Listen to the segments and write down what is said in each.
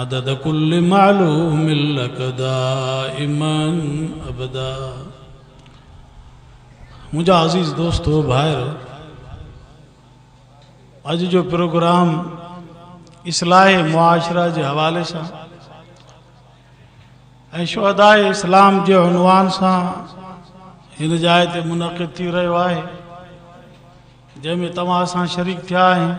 عدد ڪل معلوم لک دائما ابدا منهنجا عزيز دوستو ڀائر اڄ جو پروگرام اصلاح معاشرا جي حوالي سان ۽ شهداء اسلام جي عنوان سان هن جاء تي منعقد ٿي رهيو آهي جنهن ۾ توهان سان شريڪ ٿيا آهيون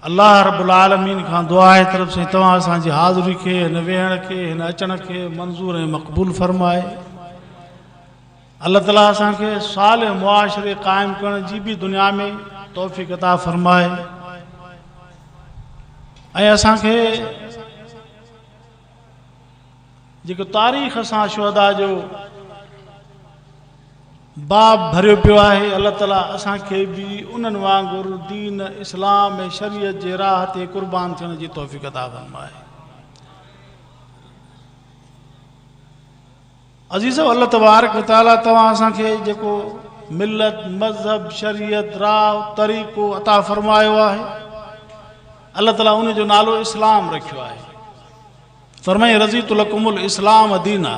الله رب العالمين کان دعا آهي ته رب سائين توهان اسان جي حاضري کي هن ويهڻ کي هن اچڻ کي منظور ۽ مقبول فرمائي الله تعالي اسان کي صالح معاشري قائم ڪرڻ جي به دنيا ۾ توفيق عطا فرمائي ۽ اسان کي جيڪو تاريخ سان شهداء جو باب ڀريو پيو آهي، الله تعاليٰ اسان کي به انهن وانگر دين اسلام ۽ شريعت جي راهه تي قربان ٿيڻ جي توفيق عطا فرمائي. عزيزو الله تبارڪ و تعالي توهان اسان کي جيڪو ملت، مذهب، شريعت، راء، طريقو عطا فرمايو آهي الله تعالي ان جو نالو اسلام رکيو آهي فرمائي رضيت لکم الاسلام دينا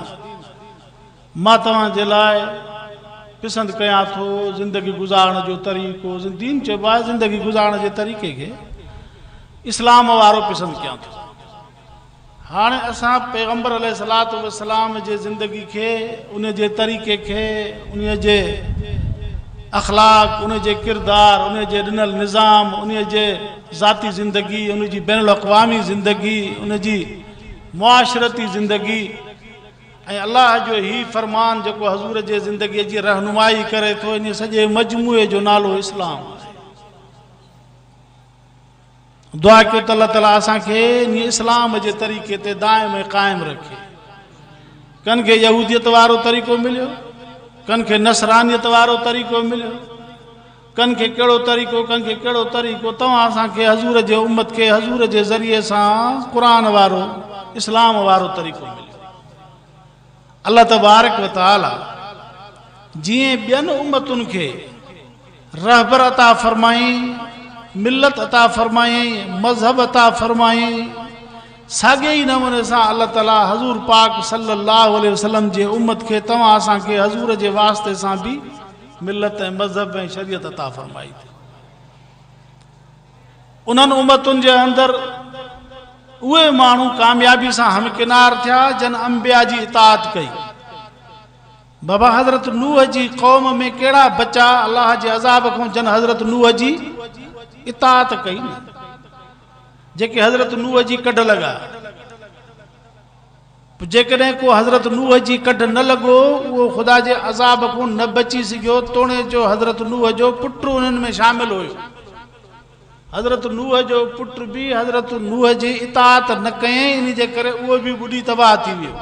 مان توهان جي لاء پسند ڪيان ٿو زندگي گذارڻ جو طريقو دين چئبو آهي زندگي گذارڻ جي طريقي کي اسلام وارو پسند ڪيان ٿو هاڻي اسان پيغمبر عليه الصلوة والسلام جي زندگي کي، ان جي طريقي کي، ان جي اخلاق، ان جي ڪردار، ان جي ڏنل نظام، ان جي ذاتي زندگي، ان جي بين الاقوامي زندگي، ان جي معاشرتي زندگي ۽ الله جو هي فرمان جيڪو حضور جي زندگي جي رهنمائي ڪري ٿو، ان سڄي مجموعي جو نالو اسلام آهي. دعا ڪيو ته الله تعالي اسان کي انهيء اسلام جي طريقي تي دائم ۽ قائم رکي. ڪن کي يهوديت وارو طريقو مليو، ڪن کي نصرانيت وارو طريقو مليو، ڪن کي ڪهڙو طريقو، ڪن کي ڪهڙو طريقو، توهان اسان کي حضور جي امت کي حضور جي ذريعي سان قرآن وارو، اسلام وارو طريقو مليو. الله تبارڪ و تعالي جيئن ٻين امتن کي رهبر عطا فرمايائين، ملت عطا فرمايائين، مذهب عطا فرمايائين، ساڳئي ئي نموني سان الله تعالي حضور پاڪ صلّي اللّٰه عليه وسلّم جي امّت کي توهان اسان کي حضور جي واسطي سان به ملت ۽ مذهب ۽ شريعت عطا فرمائي ٿي. انهن امتن جي اندر اهي ماڻهو ڪاميابي سان همڪنار ٿيا جن انبياء جي اطاعت ڪئي. بابا حضرت نوح جي قوم ۾ ڪهڙا بچا الله جي عذاب کان جن حضرت نوح جي اطاعت ڪئي نه جيڪي حضرت نوح جي ڪڍ لڳا. پوء جيڪڏهن ڪو حضرت نوح جي ڪڍ نه لڳو، اهو خدا جي عذاب کون نه بچي سگهيو، توڻي جو حضرت نوح جو پٽ انهن ۾ شامل هيو. حضرت نوح جو پٽ به حضرت نوح جي اطاعت نه ڪيائين، انهي جي ڪري اهو به ٻڏي تباهه ٿي ويو.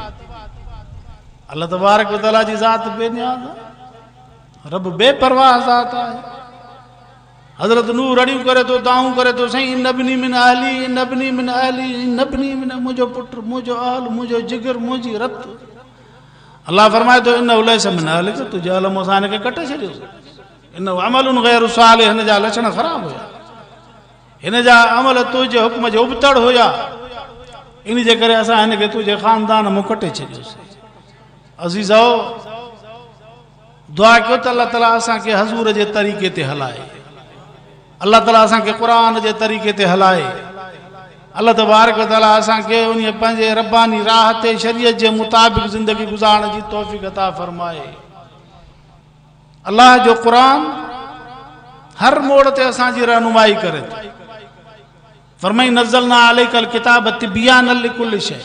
الله تبارڪ و تعاليٰ جي ذات بي نياز آهي. رب بي پرواهه ذات آهي. حضرت نوح رڙيون ڪري ٿو، دانهون ڪري ٿو، سائين ان ابني من اهلي، ان ابني من اهلي، ان ابني من، منهنجو پٽ، منهنجو اهل، منهنجو جگر، منهنجي رت. الله فرمائي ٿو انه ليس من اهلڪ، تنهنجي اهل مان اسان هن کي ڪٽي ڇڏيو سين. انه عمل غير صالح، هن جا لڇڻ خراب هيا. هن جا عمل تنهنجي حڪم جي ابتڙ هيا. ان جي ڪري اسان هن کي تنهنجي خاندان مان ڪٽي ڇڏيو سين. عزيزؤ! دعا ڪيو ته الله تعالي اسان کي حضور جي طريقي تي هلائي الله تعالي اسان کي قرآن جي طريقي تي هلائي الله تبارڪ وتعالي اسان کي ان پنهنجي رباني راهه تي شريعت جي مطابق زندگي گذارڻ جي توفيق عطا فرمائي الله جو قرآن هر موڙ تي اسان جي رهنمائي ڪري ٿو فرمائي نزلنا عليک الڪتاب تبيانا لڪل شئ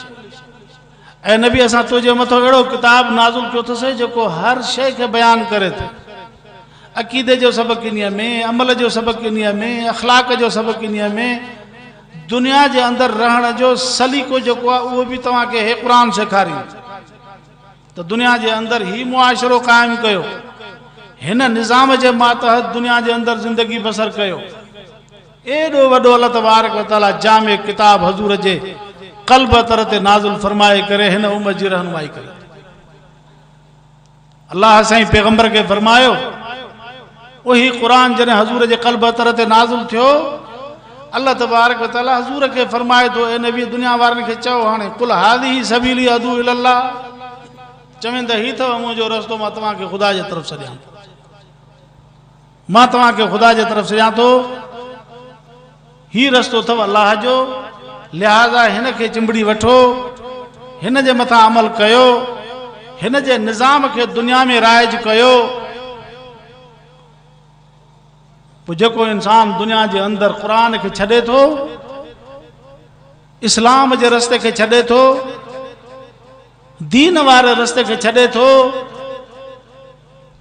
اي نبي اسان تنهنجي مٿو اهڙو ڪتاب نازل ڪيو اٿسي جيڪو هر شيء کي بيان ڪري ٿو عقيدي جو سبق انهيء ۾ عمل جو سبق انهيء ۾ اخلاق جو سبق انهيء ۾ دنيا جي اندر رهڻ جو سليقو جيڪو آهي اهو به توهان کي هي قرآن سيکاري ته دنيا جي اندر هي معاشرو قائم ڪيو هن نظام جي ماتحت دنيا جي اندر زندگي بسر ڪيو ايڏو وڏو الله تبارڪ و تعاليٰ جامع ڪتاب حضور جي قلب اطهر تي نازل فرمائي ڪري هن امت جي رهنمائي ڪري ٿو. الله سائين پيغمبر کي فرمايو اهي قرآن جڏهن حضور جي قلب اطهر تي نازل ٿيو الله تبارڪ و تعاليٰ حضور کي فرمائي ٿو اي نبي دنيا وارن کي چئو هاڻي قل هذه سبيلي ادعو الي الله چوين ته هي اٿو منهنجو رستو مان توهان کي خدا جي طرف سڏيان ٿو. مان توهان کي خدا جي طرف سڏيان ٿو، هي رستو اٿو الله جو، لهذا هن کي چنبڙي وٺو، هن جي مٿان عمل ڪيو، هن جي نظام کي دنيا ۾ رائج ڪيو، پوء جيڪو انسان دنيا جي اندر قرآن کي ڇڏي ٿو، اسلام جي رستي کي ڇڏي ٿو، دين واري رستي کي ڇڏي ٿو،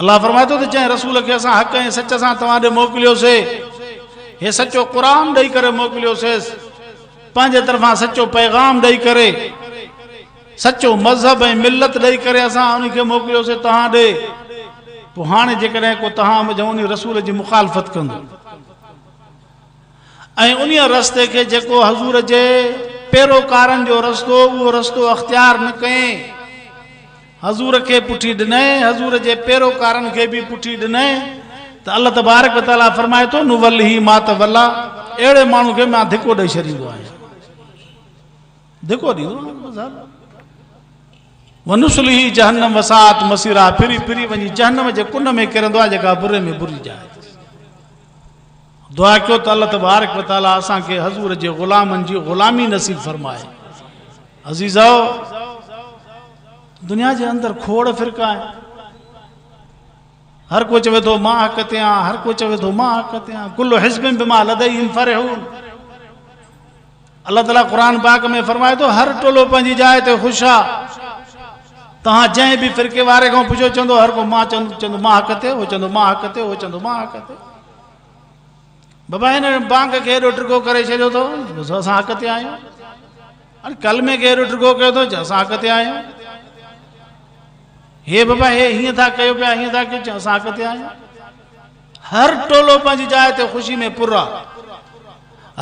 الله فرمائي ٿو ته جنهن رسول کي اسان حق ۽ سچ سان توهان ڏي موڪليوسي، هي سچو قرآن ڏئي ڪري موڪليوسيس، پنهنجي طرفان سچو پيغام ڏئي ڪري، سچو مذهب ۽ ملت ڏئي ڪري اسان انهي کي موڪليوسي توهان ڏي، پوء هاڻي جيڪڏهن ڪو توهان منجهان انهي رسول جي مخالفت ڪندو. ۽ انهيء رستي کي جيڪو حضور جي پيروڪارن جو رستو اهو رستو اختيار نه ڪئين حضور کي پٺي ڏنئين حضور جي پيروڪارن کي به پٺي ڏنئين ته الله تبارڪ و تعالي فرمائي ٿو نولّه ما تولّا اهڙي ماڻهو کي مان ڌڪو ڏئي ڇڏيندو آهيان ڌڪو ڏيندو آهيان بس حل ونسلي هي جهنم وسات مسيرا پھري پھري وڃي جهنم جي ڪنڊ ۾ ڪرندو آ جيڪا بري ۾ بري جاء دعا ڪيو ته الله تبارڪ و تعالي اسان کي حضور جي غلامن جي غلامي نصيب فرمائي. عزيزؤ! دنيا جي اندر کوڙ فرقا آهن. هر ڪو چوي ٿو مان حق تي آهيان، هر ڪو چوي ٿو مان حق تي آهيان. ڪل حزب بما لديهم فرحون. الله تعالي قرآن پاڪ ۾ فرمائي ٿو هر ٽولو پنهنجي جاء تي خوش آ. توهان جنهن به فرقي واري کان پڇو چوندو هر ڪو مان چوندو مان حق تي، هو چوندو مان حق تي، هو چوندو مان حق تي. بابا هن بانگ کي ايڏو ڊگهو ڪري ڇڏيو اٿو جو اسان حق تي آهيون ان ڪلمي کي ايڏو ڊگهو ڪيو اٿو جو اسان حق تي آهيون هي بابا هي هيئن ٿا ڪيو پيا هيئن ٿا ڪيو اسان حق تي آهيون هر ٽولو پنهنجي جاء تي خوشي ۾ پر آهي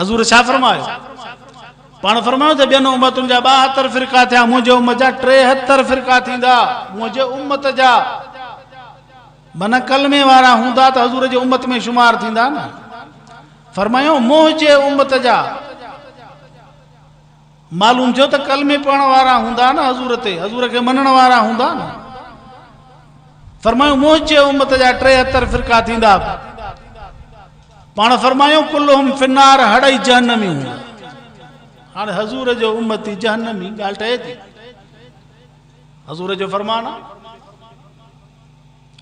حضور ڇا فرمايو پاڻ فرمايو ته ٻين امتن جا ٻاهتر فرقا ٿيا منهنجي امت جا ٽيهتر فرقا ٿيندا منهنجي امت جا منهن ڪلمي وارا هوندا ته حضور جي امت ۾ شمار ٿيندا نه فرمايو منهن جي امت جا معلوم ٿيو ته ڪلمي پڙهڻ وارا هوندا نه حضور تي حضور کي منڻ وارا هوندا نه فرمايو منهن جي امت جا ٽي اتر فرقا ٿيندا پاڻ فرمايو کلهم فنار هڙئي جهنمي هو هاڻ حضور جو امتي جهنمي ڳالهه ٺهي ٿي حضور جو فرمان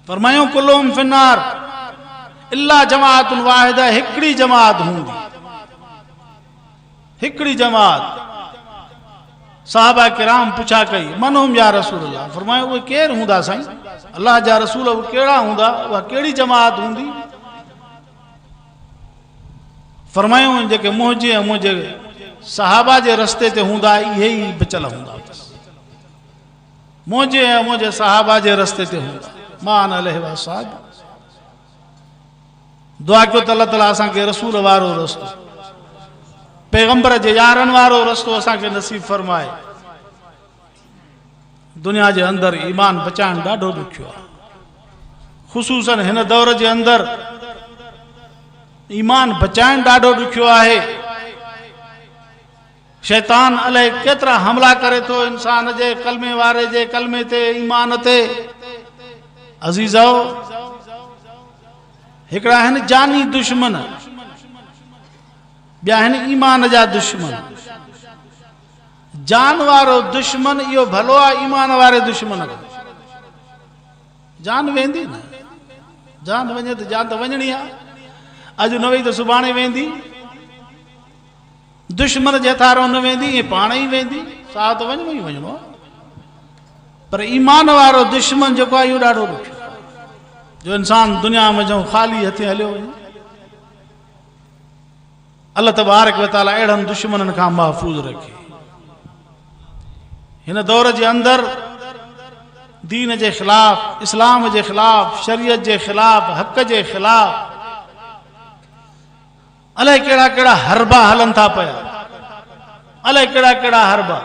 فرمايائون ڪلهم في النار الا جماعت واحده هڪڙي جماعت هوندي هڪڙي جماعت صحابه کرام پڇا ڪئي من هم يا رسول الله فرمايو اهي ڪير هوندا سائين الله جا رسول اهي ڪهڙا هوندا اها ڪهڙي جماعت هوندي فرمايو جيڪي منهنجي ۽ منهنجي صحابه جي رستي تي هوندا اهي ئي بچل هوندا منهنجي ۽ منهنجي صحابه جي رستي تي هوندا ما انا عليه واصحابي دعا ڪيو ته الله تعالی اسان کي رسول وارو رستو پيغمبر جي يارن وارو رستو اسان کي نصيب فرمائي دنيا جي اندر ايمان بچائڻ ڏاڍو ڏکيو آهي خصوصا هن دور جي اندر ايمان بچائڻ ڏاڍو ڏکيو آهي شيطان الائي ڪيترا حملا ڪري ٿو انسان جي ڪلمي واري جي ڪلمي تي ايمان تي عزيزؤ هڪڙا آهن جاني دشمن ٻيا آهن ايمان جا دشمن جان وارو دشمن اهو ڀلو آ ايمان واري دشمن کان جان ويندي نه جان وڃي ته جان ته وڃڻي آ اڄ نه وئي ته سڀاڻي ويندي دشمن جي هٿيارون نه ويندي، ايئن پاڻ ئي ويندي، ساهه ته وڃڻو ئي وڃڻو آهي. پر ايمان وارو دشمن جيڪو آهي اهو ڏاڍو ڏکيو آهي، جو انسان دنيا منجهان خالي هٿين هليو وڃي. الله تبارڪ و تعالي اهڙن دشمنن کان محفوظ رکي. هن دور جي اندر دين جي خلاف، اسلام جي خلاف، شريعت جي خلاف، حق جي خلاف الائي ڪهڙا ڪهڙا حربا هلن ٿا پيا. الائي ڪهڙا ڪهڙا حربا.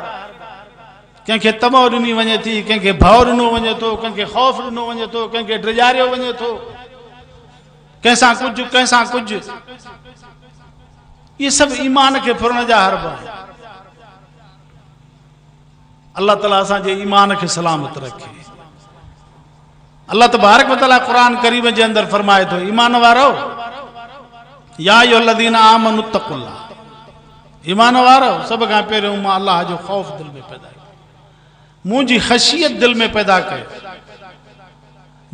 ڪنهن کي طمع ڏني وڃي ٿي، ڪنهن کي ڀئو ڏنو وڃي ٿو، ڪنهن کي خوف ڏنو وڃي ٿو، ڪنهن کي ڊيڄاريو وڃي ٿو. ڪنهن سان ڪجهه، ڪنهن سان ڪجهه. اهي سڀ ايمان کي ڦرڻ جا حربا آهن. الله تعالي اسان جي ايمان کي سلامت رکي. الله تبارڪ و تعالي قرآن ڪريم جي اندر فرمائي ٿو ايمان وارؤ يا ايها الذين آمنوا اتقوا الله ايمان وارؤ سڀ کان پهريون مان الله جو خوف دل ۾ پيدا ڪيو منهنجي خشيت دل ۾ پيدا ڪيو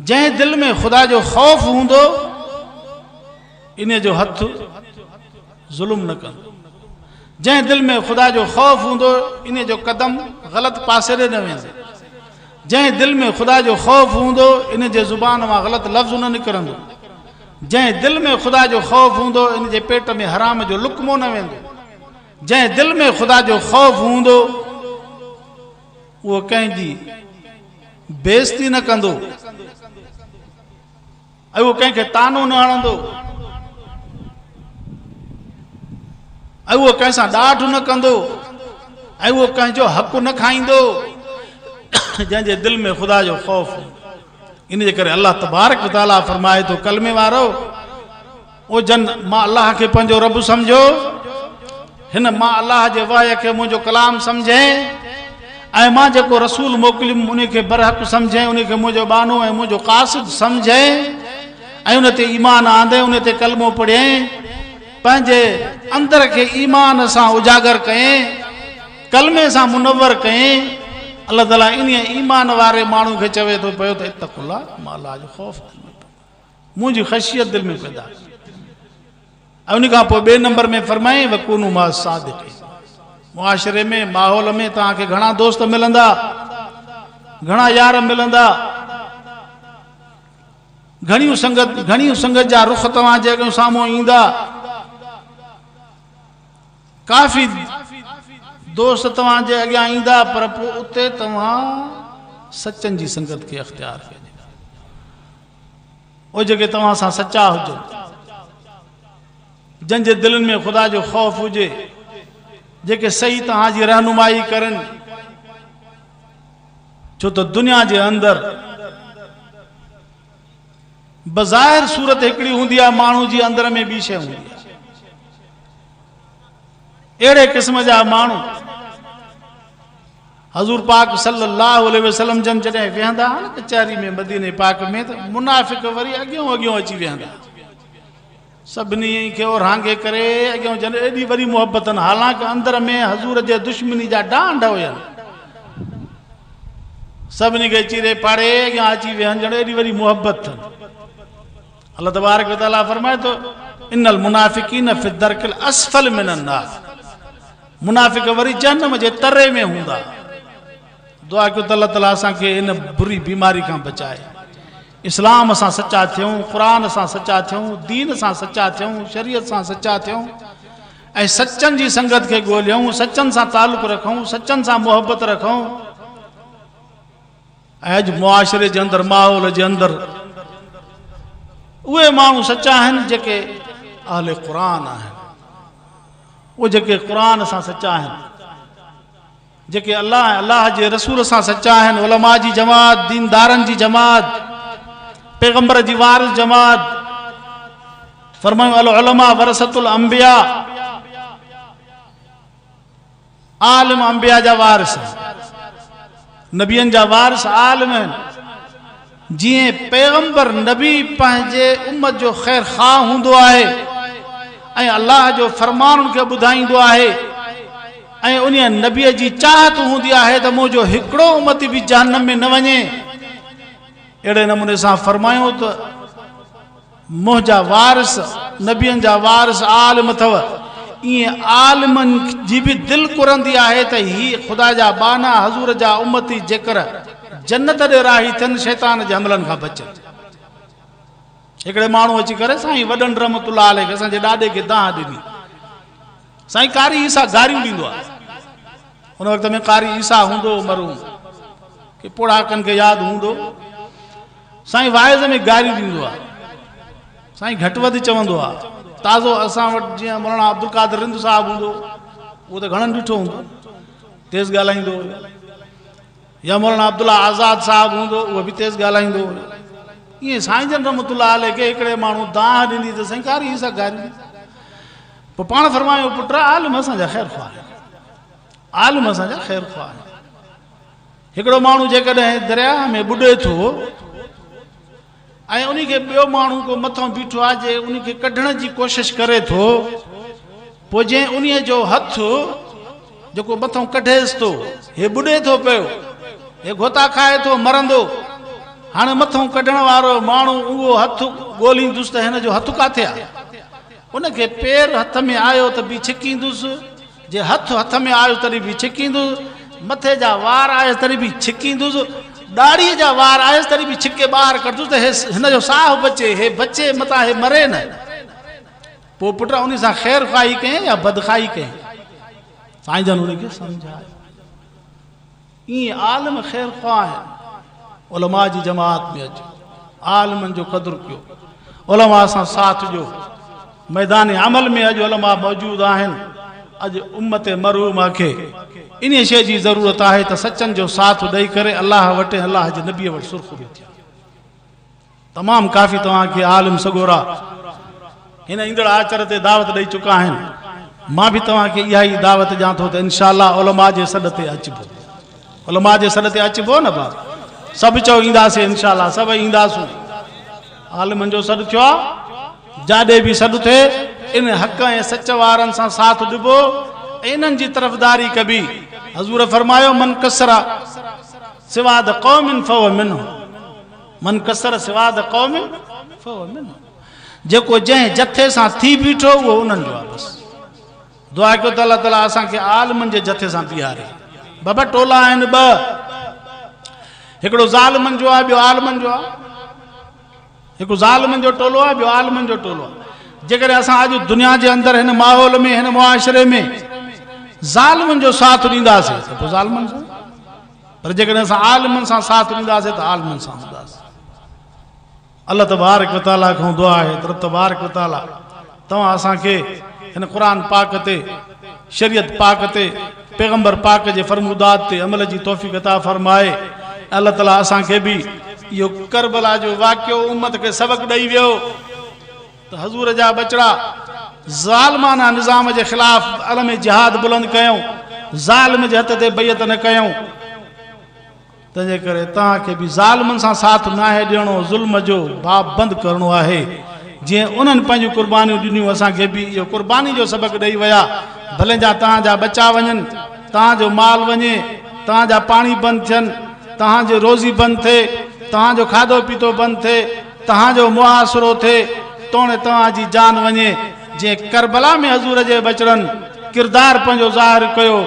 جنهن دل ۾ خدا جو خوف هوندو انهي جو هٿ ظلم نه ڪندو جنهن دل ۾ خدا جو خوف هوندو انهي جو قدم غلط پاسي ڏي نه ويندو جنهن دل ۾ خدا جو خوف هوندو انهي جي زبان مان غلط لفظ نه نڪرندو جنهن دل ۾ خدا جو خوف هوندو انهي جي پيٽ ۾ حرام جو لقمو نه ويندو جنهن دل ۾ خدا جو خوف هوندو اهو ڪنهن جي بيعزتي نه ڪندو ۽ اهو ڪنهن کي طعنو نه هڻندو ۽ اهو ڪنهن سان ڏاڍ نه ڪندو ۽ اهو ڪنهن جو حق نه کائيندو جنهن جي دل ۾ خدا جو خوف ان جي ڪري الله تبارڪ وتعاليٰ فرمائي ٿو ڪلمي وارو او جن ما الله کي پنهنجو رب سمجهيو، هن ما الله جي وحي کي منهنجو ڪلام سمجهين، ۽ مان جيڪو رسول موڪليم انهي کي برحق سمجهين، انهي کي منهنجو ٻانهو ۽ منهنجو قاصد سمجهين، ۽ ان تي ايمان آندين، انهي تي ڪلمو پڙهين، پنهنجي اندر کي ايمان سان اجاگر ڪئين، ڪلمي سان منور ڪئين، الله تعالي انهي ايمان واري ماڻهو کي چوي ٿو پيو ته اتقوا الله، ما الله جو خوف ڪريو. منهنجي خشيت دل ۾ پيدا ڪئي ۽ ان کان پوء ٻئي نمبر ۾ فرمائين وڪونوا مع الصادقين معاشري ۾ ماحول ۾ توهان کي گهڻا دوست ملندا گهڻا يار ملندا گهڻيون سنگت گهڻيون سنگت جا رخ توهان جي اڳيان سامهون ايندا ڪافي دوست توهان جي اڳيان ايندا پر پوء اتي توهان سچن جي سنگت کي اختيار ڪجي او جيڪي توهان سان سچا هجو، جن جي دلن ۾ خدا جو خوف هجي، جيڪي صحيح توهان جي رهنمائي ڪرن، ڇو ته دنيا جي اندر بظاهر صورت هڪڙي هوندي آهي، ماڻهو جي اندر ۾ ٻي شيء هوندي آهي. اهڙي قسم جا ماڻهو حضور پاڪ صلي الله عليه وسلم جن جڏهن ويهندا ها نه ڪچهري ۾ مديني پاڪ ۾ ته منافق وري اڳيون اڳيون اچي ويهندا سڀني کي اورهانگي ڪري اڳيون جن ايڏي وڏي محبتن حالانڪ اندر ۾ حضور جي دشمني جا ڊانڊ هيا سڀني کي چيري پاڙي اڳيان اچي ويهن جن ايڏي وڏي محبت الله تبارڪ و تعاليٰ فرمائي ٿو، ان المنافقين في الدرڪ الاسفل من النار منافق وري جهنم جي تري ۾ هوندا. دعا ڪيو ته الله تعاليٰ اسان کي ان بري بيماري کان بچائي. اسلام سان سچا ٿيون، قرآن سان سچا ٿيون، دين سان سچا ٿيون، شريعت سان سچا ٿيون ۽ سچن جي سنگت کي ڳوليون، سچن سان تعلق رکون، سچن سان محبت رکون. اڄ معاشري جي اندر ماحول جي اندر اهي ماڻهو سچا آهن جيڪي اهل قرآن آهن اهي جيڪي قرآن سان سچا آهن جيڪي الله ۽ الله جي رسول سان سچا آهن علماء جي جماعت ديندارن جي جماعت پيغمبر جي وارث جماعت فرمايو العلماء ورثت الانبياء عالم انبياء جا وارث آهن، نبين جا وارث عالم آهن، جيئن پيغمبر نبي پنهنجي امت جو خير خواهه هوندو آهي ۽ الله جو فرمان ان کي ٻڌائيندو آهي ۽ انهيء نبيء جي چاهت هوندي آهي ته منهنجو هڪڙو امتي به جهنم ۾ نه وڃي، اهڙي نموني سان فرمايون ته. منهنجا وارث نبين جا وارث عالم اٿو. ايئن عالمن جي به دل ڪرندي آهي ته هي خدا جا ٻانها حضور جا امتي جيڪر جنت ڏي راهي ٿين شيطان جي حملن کان بچن. هڪڙي ماڻهو اچي ڪري سائين وڏن رحمت الله عليه کي اسان جي ڏاڏي کي دانهن ڏني. سائين قاري عيسيٰ گاريون ڏيندو آهي. ان وقت ۾ قاري عيسيٰ هوندو مرحوم کي پوڙهاڪن کي ياد هوندو. سائين واعظ ۾ گاريون ڏيندو آ سائين گهٽ وڌ چوندو آ تازو اسان وٽ جيئن مولانا عبدالقادر رند صاحب هوندو اهو ته گهڻن ڏٺو هوندو تيز ڳالهائيندو هيو يا مولانا عبدالله آزاد صاحب هوندو اهو به تيز ڳالهائيندو هيو ائين سائين جن رحمت الله عليه کي هڪڙي ماڻهو دانهن ڏني ته سائين ڪاري حصا گاري پوء پاڻ فرمايو پٽ عالم اسان جا خير خواهه عالم اسان جا خير خواهه هڪڙو ماڻهو جيڪڏهن درياهه ۾ ٻڏي ٿو ۽ ان کي ٻيو ماڻهو ڪو مٿان بيٺو آهي جي ان کي ڪڍڻ جي ڪوشش ڪري ٿو پوء جنهن انهي جو هٿ جيڪو مٿان ڪڍيس ٿو هي ٻڏي ٿو پيو هي گهوتا کائي ٿو مرندو هاڻي مٿان ڪڍڻ وارو ماڻهو اهو هٿ ڳوليندس ته هن جو هٿ ڪاٿي آهي ان کي پير هٿ ۾ آيو ته به ڇڪيندس جي هٿ هٿ ۾ آيو تڏهن به ڇڪيندس، مٿي جا وار آيس تڏهن به ڇڪيندس، ڏاڙهيء جا وار آيس تڏهن به ڇڪي ٻاهر ڪڍندس ته هن جو ساهه بچي، هي بچي متان هي مري نه. پوء پٽ انهي سان خير خواهي ڪيائين يا بدخواهي ڪيائين؟ سائين جن هن کي سمجهايو. ايئن عالم خير خواهه آهن. علماء جي جماعت ۾ اچو. عالمن جو قدر ڪيو. علماء سان ساٿ ڏيو. ميدان عمل ۾ اڄ علماء موجود آهن. اڄ امت مرحومه کي انهيء شيء جي ضرورت آهي ته سچن جو ساٿ ڏئي ڪري الله وٽ ۽ الله جي نبيء وٽ سرخرو ٿين. تمام ڪافي توهان کي عالم سڳورا هن ايندڙ آچر تي دعوت ڏئي چڪا آهن مان به توهان کي اها ئي دعوت ڏيان ٿو ته انشاء الله علماء جي سڏ تي اچبو علماء جي سڏ تي اچبو نه با سڀ چئو اينداسي انشاء الله سڀ اينداسون عالمن جو سڏ ٿيو آهي جاڏي به سڏ ٿئي ان حق ۽ سچ وارن سان ساٿ ڏبو انهن جي طرفداري ڪبي حضور فرمايو من کسرا سواد قوم فهو منه من ڪثر سواد قوم فهو منهم جيڪو جنهن جٿي سان ٿي بيٺو اهو انهن جو آ بس دعا ڪيو ته الله تعالي اسان کي عالمن جي جٿي سان بيهاري بابا ٽولا آهن ٻه هڪڙو ظالمن جو آ ٻيو عالمن جو آ هڪ ظالمن جو ٽولو آ ٻيو عالمن جو ٽولو آ جيڪڏهن اسان اڄ دنيا جي اندر هن ماحول ۾ هن معاشري ۾ ظالمن جو ساٿ ڏينداسين ته پوء ظالمن سان پر جيڪڏهن اسان عالمن سان ساٿ ڏينداسين ته عالمن سان هونداسين. الله تبارڪ و تعاليٰ کان دعا آهي ته رب تبارڪ و تعاليٰ توهان اسان کي هن قرآن پاڪ تي، شريعت پاڪ تي، پيغمبر پاڪ جي فرمودات تي عمل جي توفيق عطا فرمائي ۽ الله تعاليٰ اسان کي به اهو ڪربلا جو واقعو امت کي سبق ڏئي ويو. ته حضور جا ٻچڙا ظالمانه نظام جي خلاف علم جهاد بلند ڪيو، ظالم جي هٿ تي بيعت نه ڪيو، تنهنجي ڪري توهان کي به ظالمن سان ساٿ ناهي ڏيڻو، ظلم جو باب بند ڪرڻو آهي، جيئن انهن پنهنجون قربانيون ڏنيون، اسان کي به اهو قرباني جو سبق ڏئي ويا، ڀلين جا توهان جا ٻچا وڃن، توهان جو مال وڃي، توهان جا پاڻي بند ٿين، توهان جي روزي بند ٿئي، توهان جو کاڌو پيتو بند ٿئي. توهان جو محاصرو ٿئي، توڻي توهان جي جان وڃي، جيئن ڪربلا ۾ حضور جي ٻچڙن ڪردار پنهنجو ظاهر ڪيو،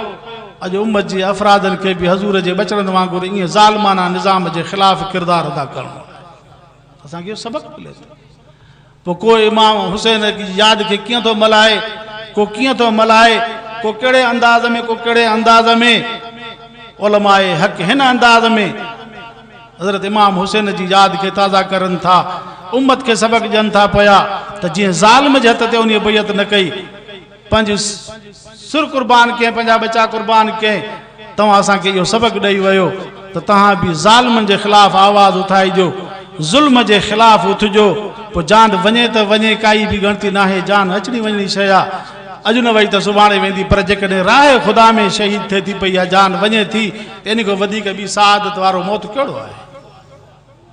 اڄ امت جي افرادن کي به حضور جي ٻچڙن وانگر ايئن ظالمانه نظام جي خلاف ڪردار ادا ڪرڻو آهي. اسان کي اهو سبق ملي ٿو. پوء ڪو امام حسين جي ياد کي ڪيئن ٿو ملهائي، ڪو ڪيئن ٿو ملهائي، ڪو ڪهڙي انداز ۾، ڪو ڪهڙي انداز ۾، علماء حق هن انداز ۾، حضرت امام حسين جي ياد کي تازه ڪرن ٿا، امت کي سبق ڏين ٿا پيا ته جنهن ظالم جي هٿ تي انهيء بيعت نه ڪئي، پنهنجي سر قربان ڪئين، پنهنجا ٻچا قربان ڪئين، توهان اسان کي اهو سبق ڏئي ويو ته توهان به ظالمن جي خلاف آواز اٿائجو، ظلم جي خلاف اٿجو، پوء جان وڃي ته وڃي، ڪائي به ڳڻتي ناهي، جان اچڻي وڃڻي شيء آ، اڄ نه وئي ته سڀاڻي ويندي، پر جيڪڏهن راهه خدا ۾ شهيد ٿئي ٿي پئي يا جان وڃي ٿي، ان کان وڌيڪ ٻي سعادت وارو موت ڪهڙو آهي؟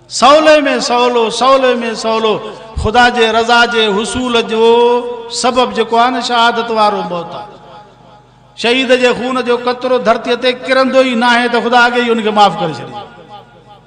سولي ۾ سولو، سولي ۾ سولو خدا جي رضا جي حصول جو سبب جيڪو آهي نه شهادت وارو موت آهي. شهيد جي خون جو قطرو ڌرتيء تي ڪرندو ئي ناهي ته خدا اڳي ئي ان کي معاف ڪري ڇڏيندو.